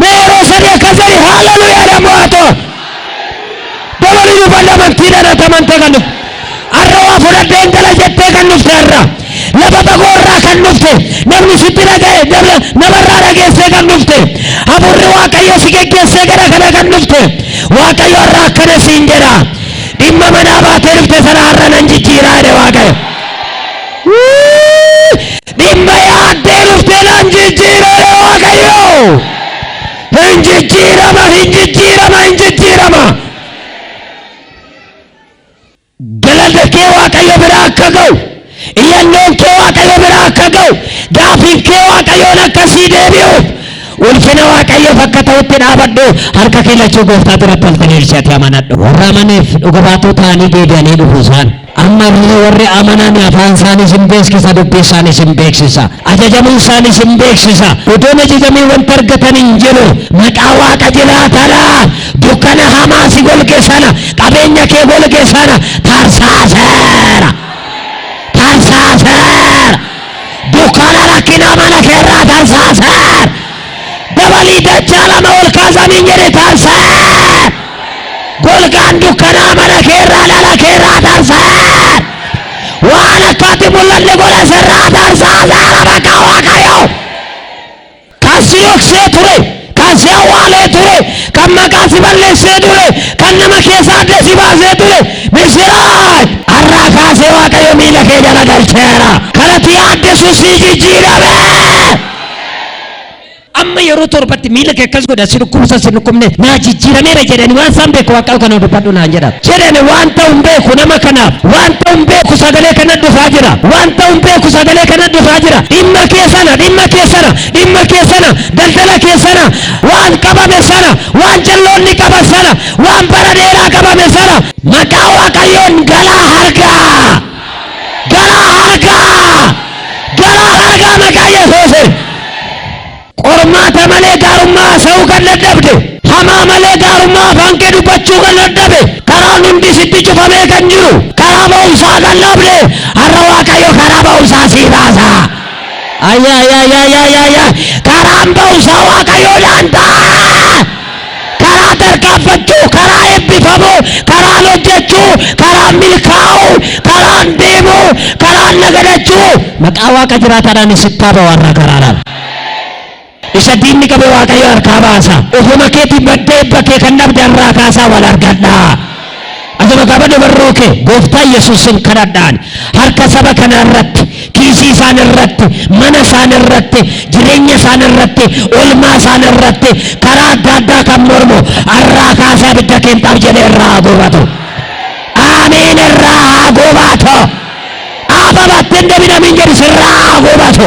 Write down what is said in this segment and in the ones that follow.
Mee yeroo sadii akkas jedhi haaleluyyaadha mo'atoo. Dabalii dubbadha amantiidhaan ati amantee kan dhufte. Har'a waa fudhadheen gala jettee kan dhufte har'a. Lafa fagoo irraa kan dhufte. Namni sitti dhaga'e dabla- namarraa dhageessee kan dhufte. Hafuurri Waaqayyo si geggeessee gara kana kan dhufte. Waaqayyo har'a akkana siin jedha. Dhimma manaa baatee dhufte sana har'a nan jijjiiraa jedhe Waaqayyo. Dhimma yaaddee dhuftee nan jijjiira jedhe Waaqayyo. Hin jijjiirama, hin jijjiirama, hin jijjiirama. Galata kee Waaqayyo bira akka ga'u, iyyannoon kee Waaqayyo bira akka ga'u, gaafiin kee Waaqayyoon akka sii deebi'uuf, ulfina Waaqayyoof akka ta'utti dhaabadhu, harka kee lachuu gooftaa duratti ol diriirsi ati amanadhu. Warra amaneef dhuga baatoo ta'anii deebi'anii dhufu isaan. Amma immoo warri amanan afaan isaaniis in beeksisa, dubbii isaaniis in beeksisa. Ajajamuu isaaniis in beeksisa. Utuu hin ajajamiin wanti argatan hin jiru. Maqaa Waaqa jiraataraa, dukkana hamaa si golge sana, qabeenya kee golge sana tarsaaseera. Tarsaaseera. Dukkana rakkinaa mana kee irraa tarsaaseera. dabalii dachaa lama ol kaasamiin jedhe tarsa golgaan dukkanaa mana keerraa dhala keerraa tarsa waan akkaatti mul'anne godha sirraa tarsaa saara bakka waaqayyo kan si dhoksee ture kan si awwaalee ture kan maqaa si balleessee ture kan nama keessaa adda si baasee ture misiraach har'aa kaasee waaqayyo miila kee jala galcheera kanatti yaaddesu si jijjiirame Amma yeroo torbatti miila kee akkas godha si dhukkubsa si dhukkubne naa jijjiirameera jedhani waan isaan beeku waaqaa kana dubbadhu naan jedha. Jedhani waan ta'u hin beeku nama kanaaf waan ta'u hin beeku sagalee kana dhufaa jira waan ta'u hin beeku sagalee kana dhufaa jira dhimma kee sana dhimma kee sana dhimma kee sana daldala kee sana waan qabame sana waan jalloonni qaban sana waan bara dheeraa qabame sana maqaa waaqayyoon galaa harkaa. Garaa hargaa! Garaa hargaa maqaa Yesuusiin! Qormaata malee gaarummaa haasa'uu kan dadhabde, hamaa malee gaarummaa afaan kee dubbachuu kan dadhabe, karaan hundi sitti cufamee kan jiru, karaa ba'umsaa kan dhabde, har'a Waaqayyo karaa ba'umsaa sii baasa! Ayyaayyaayyaayyaayyaayyaa! Karaan ba'umsaa Waaqayyoodhaan ta'a! karaa tarkaanfachuu, karaa eebbifamuu, karaan hojjechuu, karaan milkaa'uu, karaan deemuu, karaan nagadachuu maqaa Waaqa jiraataadhaan isitti haa ba'u har'a karaadhaan. Isa diinni qabe Waaqayyo harkaa baasa. Ofuma keetii badda eebba kee kan dhabde har'aa kaasaa wal argadhaa. Ati maqaa bade barruu kee gooftaa Yesuusin kadhadhaan harka saba kanaa irratti kiisii isaan irratti mana isaan irratti jireenya isaan irratti olmaa isaan irratti karaa adda addaa kan mormu arraa kaasaa bidda keentaaf jedhe irraa haa gubatu aamiin irraa haa gubatu ababatti hin demin amin jedhi sirraa haa gubatu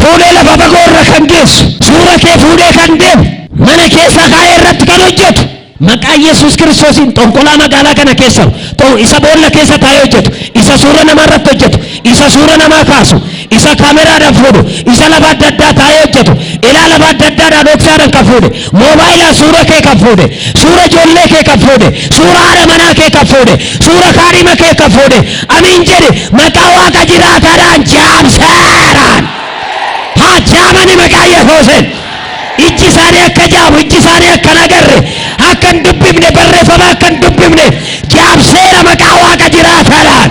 Fuudhee lafa fagoo irra kan geessu, suura kee fuudhee kan deemu, mana keessa kaa'ee irratti kan hojjetu, maqaa Yesuus Kiristoosiin xonqolaa magaalaa kana keessa ta'u, isa boolla keessa taa'ee hojjetu, isa suura namaa irratti hojjetu, isa suura namaa kaasu, isa kaameraadhaan fuudhu, isa lafa adda addaa taa'ee hojjetu, ilaa lafa adda addaadhaa dhoksaadhaan kan fuudhe, moobaayilaan suura kee kan fuudhe, suura ijoollee kee kan fuudhe, suura haadha manaa kee kan fuudhe, suura kaadhima kee kan fuudhe, Amiin jedhi maqaa waaqa jiraataadhaan jaamseeraan haa jaamani maqaa yesuusin ijji isaanii akka jaamu ijji isaanii akka nagarre akka hin dubbifne barreeffama akka hin dubbifne jaamseera maqaa waaqa jiraataadhaan